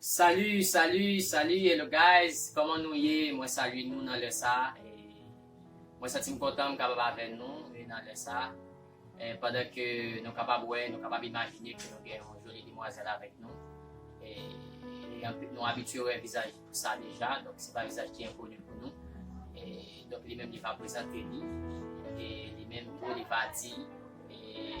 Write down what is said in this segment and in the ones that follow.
Salut salut salut hello guys kòman nou ye mwen salye nou nan lè sa mwen santi m kontan m kapab avè nou nan lè sa pandan ke nou kapab wè nou kapab imajine ke nou gen yon joli demwazèl avèk nou e nou abitye wè vizaj sa deja donk se pa vizaj ki enkoni pou nou donk li menm li va prezante li e li menm tou li va di e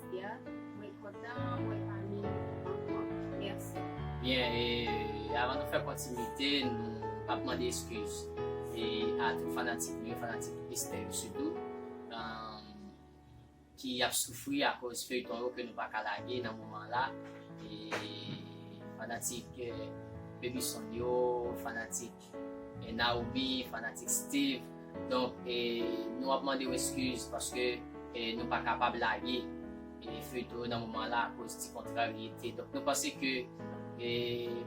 Sia mwen kontan wè fanmi ankò merci. Bien e avan nou fè kontinite nou ap mande eskiz e a tout fanatik nou yo fanatik Esther yo sitou ki ap soufri akoz feyton yo ke nou paka lage nan moman an la e fanatik Baby Son yo fanatik E Naomi fanatik Steeve donk e nou ap mandew eskiz paske e nou pa kapab lage e feyton yo nan moman la akoz ti kontraryete donk nou panse ke e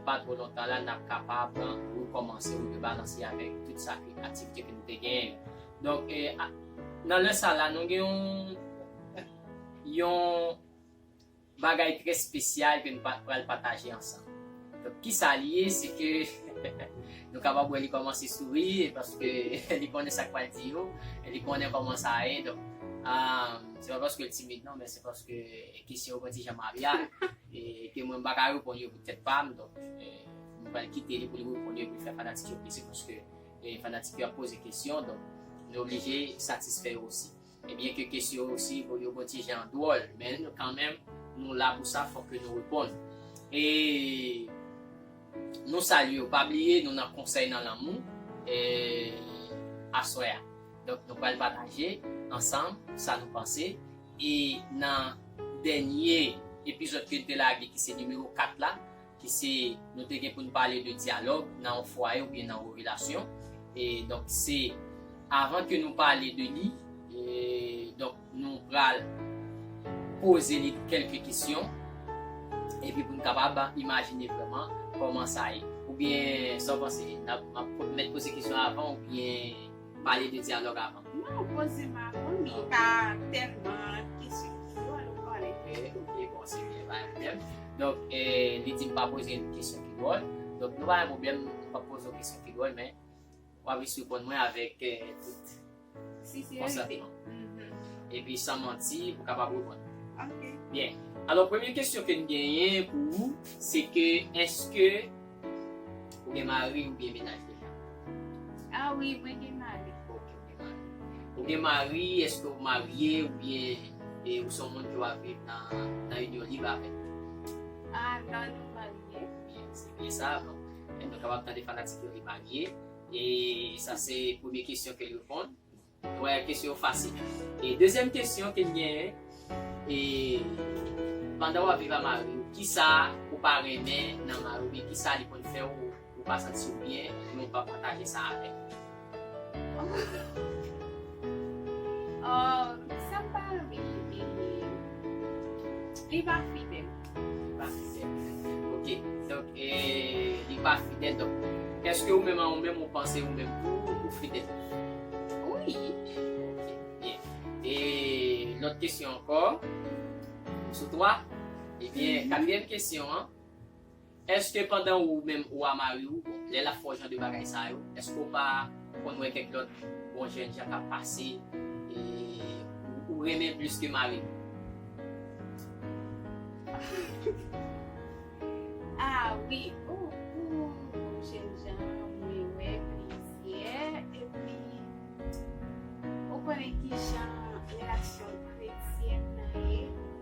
pa two lontan la nap kapab rekomanse ou rebalanse avek tout sa ke aktivite ke nou te genyen yo donk e nan lè sa la nou gen yon yon Bagay trè spesyal ke nou pa pral pataje ansanm. Donk kisa li ye se ke nou kapab wè li kòmanse souri e paske li konnen sak pral di yo, li konnen kòman sa ye donk se pa paskel timid non men se paske kesyon yo pran ti jan Maria e ke mwen m paka reponn yo pou tèt pam donk nou pral kite li pou li reponn yo epi fè fanatik yo plezi paske fanatik yo ap poze kesyon donk nou oblije satisfè yo osi. E byen ke kesyo si bon yo bon ti jan dwòl men nou kanmenm nou la pou sa fòk ke nou reponn. E nou salye w pa bliye nou nan konsèy nan lanmou e aswè a. Donk nou pral pataje ansanm sa nou panse e nan dènye epizòd ke n te lage ki se nimewo 4 la ki se nou te gen pou n pale de dyalòg nan yon fwaye oubyen nan yon relasyon e donk se avan ke nou pale de li donk nou pral poze li kelke kesyon epi pou n kapab imajine vreman kòman sa ye oubyen sa w panse map mèt poze kesyon avan oubyen. Pale de dyalòg avan. Non poze m avan men pa tèlman kesyon kidwòl ou pale. Ok bon se byen pa gen pwoblèm. Donk li di m pa poze l kesyon kidwòl. Donk nou pa gen pwoblèm m pap poze w kesyon kidwòl men w ap jis reponn mwen avèk tout konsantman. Epi san manti pou w kapab reponn mwen. Ok. Byen. Alò premye kesyon ke m genyen pou ou se ke èske. Ou gen mari ou byen menaj deja? A wi mwen gen mari. Ok ou gen mari. Ou gen mari eske ou marye ou byen e ou se yon moun ki wap viv nan inyon lib avèl? A nan nou marye. Byen se byen sa bon nou kapab tande fanatik yo li marye e sa se premye kesyon ke l reponn. Ou wè kesyon yo fasil. E dezyèm kesyon ke m genyen, e pandan w ap viv a mari w, kisa ou pa renmen nan mari w oubyen kisa li konn fè w ou pa santi w byen men w pa pataje sa avè l? Sa m pa renmen li, li pa fidèl. Paske se fidèl. Ok. Donk, li pa fidèl. Donk, èske ou menm an ou menm ou panse ou menm tou ou fidèl? Wi. Ok. Byen. E lòt kesyon ankò. Sou twa. Ebyen, katriyèm kesyon an. Eske pandan ou menm ou a mari ou bon lè lap fè w jan de bagay sa yo eske w pa konn wè kèk lòt bon jèn jan kap pase ou renmen plis ke mari w ah wi ooh bon jèn jan mwen wè plizyè epi ou konnen kijan relasyon kretyèn nan ye.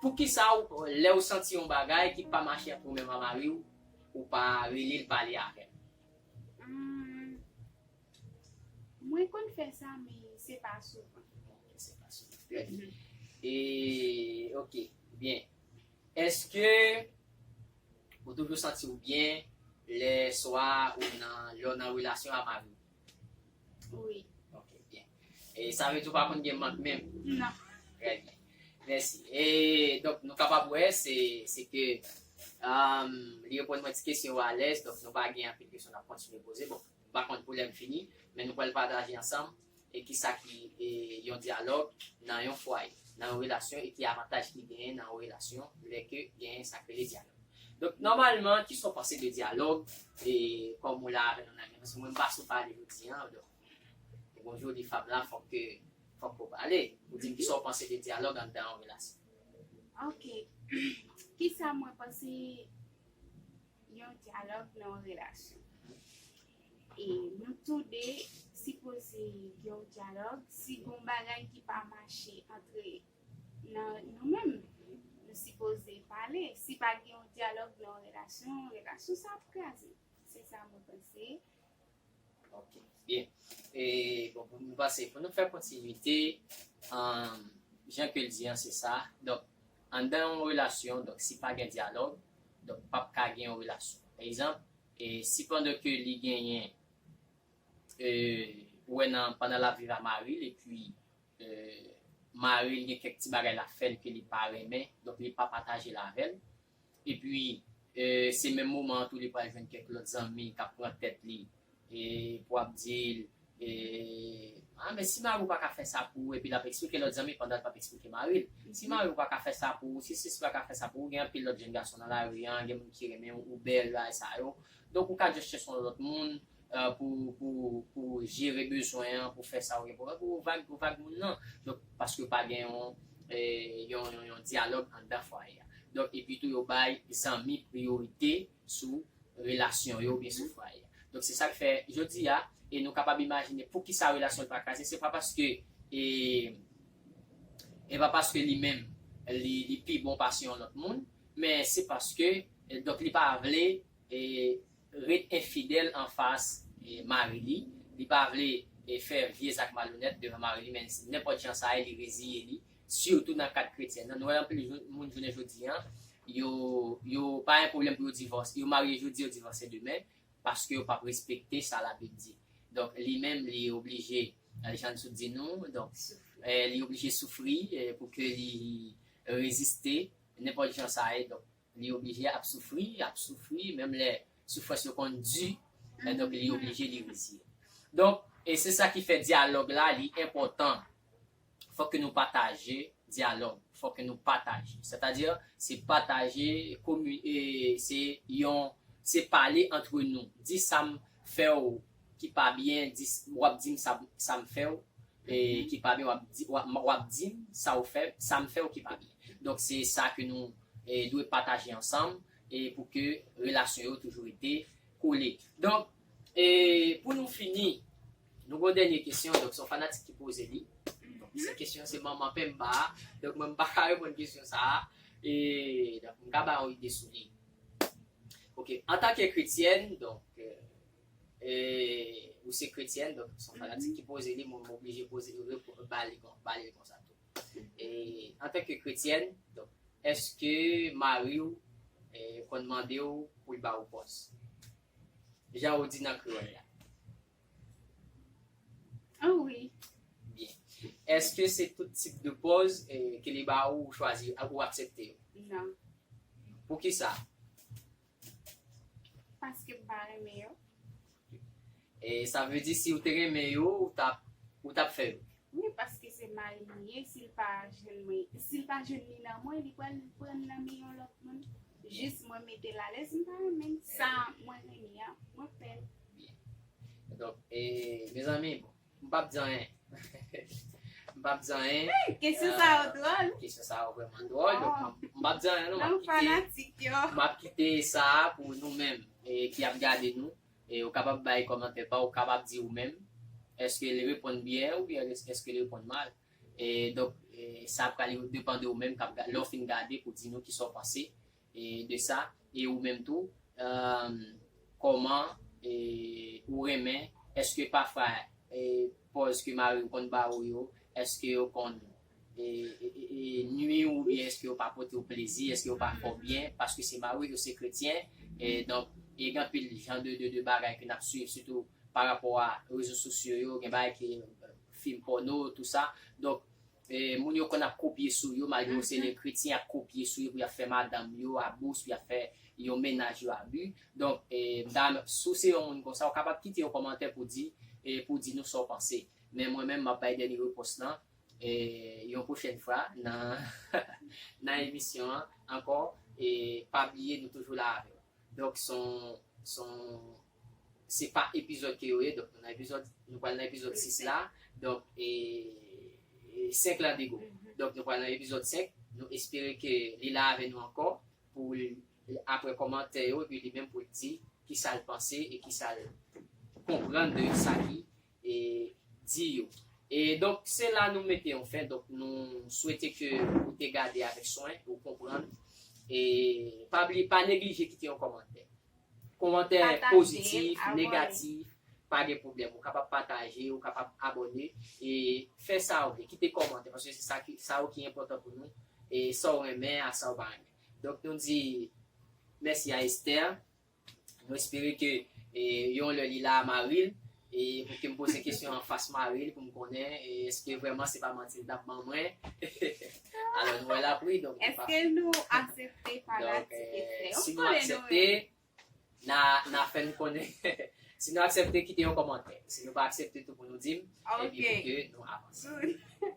Poukisa w lè w santi yon bagay ki pa mache ak ou menm a mari w ou pa rele l pale avè l. Umm mwen konn fè sa men se pa souvan. Ok se pa souvan trè byen e ok byen eske ou toujou santi w byen lè swa ou nan lè w nan relasyon a mari w. Wi. Ok, byen. E sa vle di ou pa konn gen mank menm? Non. Trè byen. Mèsi. E, donk, nou kapab wè, se, se ke, emm, li reponn mwen ti kesyon yo alèz, donk nou pa gen anpil kesyon n ap kontinye poze. Bon, m pa konn pou lè m fini, men nou pral pataje ansanm e ki sa ki e yon dyalòg nan yon fwaye, nan yon relasyon e ki avantaj ki genyen nan yon relasyon lè ke genyen sa k rele dyalòg. Donk nòmalman ki sa w panse de dyalòg e kòm ou la avè nou nan paske mwen m pa sou pale jodi an donk e bon jodi fanm la fòk ke fòk ke w pale pou di m ki sa w panse de dyalòg anndan yon relasyon. Ok ki sa mwen panse yon dyalòg nan yon relasyon e nou tou de sipoze gen yon dyalòg si gen yon bagay ki pa mache antre nan nou menm nou sipoze pale si pa gen yon dyalòg nan yon relasyon relasyon sa ap kraze se sa mwen panse. Ok byen e bon pou mwen panse pou nou fè kontinite an jan ke l di an se sa donk anndan yon relasyon donk si pa gen dyalòg donk pap ka gen yon relasyon pa egzanp e si pandan ke li genyen e ou wè nan pandan l ap viv a mari l epi maril gen kèk ti bagay lap fèl ke li pa renmen donk li pa patajel avèl epi se menm moman an tou li pral jwenn kèk lòt zanmi kap pran tèt li pou ap dil ah men si mariw paka fè sa pou ou epi lap eksplike lòt zanmi pandanl pap eksplike maril si mariw paka fè sa pou ou si sisi paka fè sa pou ou gen anpil lòt jenn gason nan lari an gen moun ki renmenw ou bèl bagay sa yo donk ou ka just chèche yon lòt moun pou jere bezwen an, pou fè sa ou gen pou fè, pou ou vag, ou vag moun nan. Donk, paske pa gen yon dyalòg anndan fwaye a. Donk, epi tou yo bay zanmi priyorite sou relasyon yo oubyen sou fwaye a. Donk, se sa k fè, jodi a, e nou kapab imajine pou ki sa relasyon l pa kraze, se pa paske, e pa paske li menm li pi bon pase yon lòt moun, men se paske, donk li pa vle, ret enfidèl anfas mari li, li pa vle fè vye zak malonèt devan mari li menmsi nenpòt jan sa ye li reziye li, sitou nan kad kretyen. Nan nwèl anpil moun jounen jodi an yo yo pa yon pwoblèm pou yo divòse, yo marye jodi yo divòse demen paske yo pap respekte sa labib di. Donk li menm li oblije jan Sou di nou donk li oblije soufri pou ke li reziste nenpòt jan sa ye donk. Li oblije ap soufri, ap soufri, menm lè soufrans yo konn di, e donk li oblije li reziye. Donk, e se sa ki fè dyalòg la li enpòtan. Fòk ke nou pataje dyalòg, fòk ke nou pataje. Sètadi, se pataje, komi, e se yon, se pale antre nou. Di sa m, fèw ki pa byen di wap dim sam fèw ki pa byen wap dim sa ou fèm sam fèw ki pa byen donk se sa ke nou dwe pataje ansanm pou ke relasyon yo toujou rete kole donk pou nou fini nou gon dènye kesyon donk son fanatik ki poze li se kesyon se manman penmba donk mwen m paka reponn kesyon sa donk m ka bay yon ide sou li. Ok antanke kretyèn donk eee ou se kretyèn donk son fanatik ki poze li mwen oblije poze li reponn ba li konsa ba li konsa tou eee antanke kretyèn donk eske mariw eee konn mandew poul bawou pòs jan ou di nan kreyòl la Ah oui. Byen. Eske se tout tip de pòz ke li ba ou ou chwazi ak ou aksepte yo? Non. Poukisa? Paske m pa renmen yo. E sa vle di si ou te renmen yo ou tap ou tap fè yo? Wi paske se mari m ye si l pa jwenn mwen si l pa jwenn li nan mwen li pral pran l nan men yon lòt moun jis mwen mete l alèz m pa renmen sa mwen renmen an mwen fè l. Byen. Donk, e, mezanmi, m pap di anyen. M pap di anyen. Kesyon sa yo dwòl. Kesyon sa yo vrèman dwòl. Donk, m pap di anyen, non. Nan fanatik yo. M ap kite sa a pou nou menm ki ap gade nou. E ou kapab bay kòmantè pa ou, ou kapab di ou menm, èske li reponn byen oubyen èske li reponn mal. E, donk, sa pral depan de ou menm k ap gade. Lè ou fin gade, ou di nou ki sa ou panse. de sa e ou menm tou kòman ou renmen eske pafwa pòz ke mariw konn ba ou yo eske yo konn nwiw ou byen eske yo pa potew plezi eske yo pa fèw byen paske se mariw yo se kretyen donk gen anpil jan de bagay ke nap swiv sitou parapò a rezo sosyo yo gen bagay ke fim pòno tou sa donk Moun yo konn ap kopye sou yo malgre yo se le kretyen yap kopye sou yo pou yap fè madanm yo abus pou yap fè yon mennaj yo abus donk mdam si w se yon moun konsa ou kapab kite yon kòmantè pou di pou di nou sa w panse men mwen menm map bay dènye repons lan yon pwochèn fwa nan nan emisyon an ankò pa bliye nou toujou la avèw donk son son Se pa epizòd ke yo ye donk nou nan epizòd nou pral nan epizòd 6 la donk e 5 la bigo donk nou pral nan epizòd 5 nou espere ke li la avè nou ankò pou l apre kòmantè yo epi li menm pou l di kisal panse e kisal konprann de sa ki e di yo. E donk se la nou mete yon fen, donk nou swete ke ou te gade avèk swen, ou konprann, e pa bliye pa neglije kite yon kòmantè. Kòmantè pozitif, negatif, pa gen pwoblèm, ou kapab pataje, ou kapab abòne, e fè sa ou vle, kite kòmantè, paske se sa ki, sa yo ki enpòtan pou nou, e sa ou renmen ak sa ou pa renmen. Donk nou di, mèsi a Esther. Mwen espere ke yon lè li la maril e pou kem poze kesyon an fas maril poum konnen eske vreman se pa manti li tap ban mwen alò nou wè la ap ri donk nou pa Eske nou asepte fanatik ekstrè yo si nou aksepte na fèm konnen si nou aksepte kite yon kòmantè si nou pa aksepte tou pou nou dim epi pou ke nou avanse.